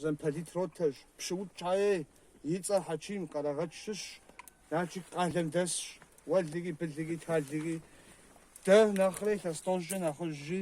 Замполит ротэщ, Пщыукӏ Чае и цӏэр Хьэчим, Къэрэгъэч щыщщ, Налшык къалэм дэсщ, уэллэхьи, биллэхьи, таллэхьи. Дэ нэхърэ илъэс тӏощӏкӏэ нэхъыжьщи,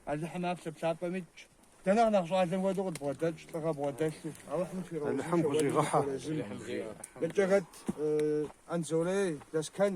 Алыхьым аплъэ плъапӏэм итщ. Дэ нэхъ нэхъ щӏалэм хуэдэу къыдбгъэдэтщ, лӏыгъэ бгъэдэлъу. Алыхьым фигъэузыншэ уэлэхьэ, Хорезым. Мыбкӏэ хэт Анзорей, Лэскэн,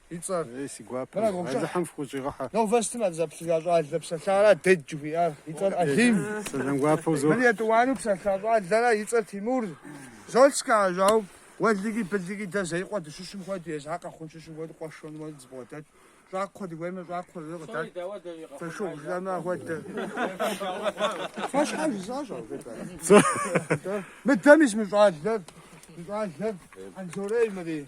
и цӏэр. Ей, си гуапэ, Алыхьым фыкъыщӏигъэхьэ. Новостым абзаплъыжа щӏалэ псалъара Дэдж жыхуиӏар, и цӏэр Алим. Сэлам гуапэ узох. Мыр етӏуанэу псалъа щӏалэрэ, и цӏэр Тимур. Золскэ ажьау, уэллэхьи биллэхьи дэ Зеикъуэ дыщыщым хуэдэу, езыхэр Къэхъун щыщым хуэдэу къуэшэну дызэбгъуэдэтщ. Щӏакхъуэ дыхуеймэ, щӏакхъуэ зыри къыдат. Фошыгъу жытӏэмэ ахуэдэ. Фэ щхьэ жысӏащ ар жытӏэрэ? Мыдэми зы мы щӏалэр, мы щӏалэр Анзорей мыри.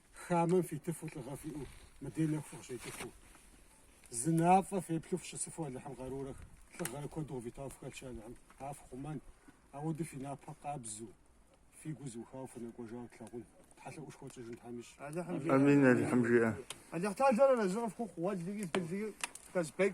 Хамэм фитыфу лӏыгъэ фиӏэу, мыдей нэху фыкъыщекӏыфу. Зы мафӏэ феплъу фыщысыфу Алыхьым къарурэ лӏыгъэрэ куэду къывитауэ фыхэтщи Алыхьым, ар фхъумэн, апхуэдэу фи напэ къабзу, фи гу зэӏухауэ фынэкӏуэжауэ тлъагъун. Тхьэлъэӏушхуэ тщӏыжын Тхьэм ищӏ. Амин, Алыхьым жиӏэ. Алыхьталэр арэзы къыфхухъу, уэллэхьи, биллэхьи, Казбек.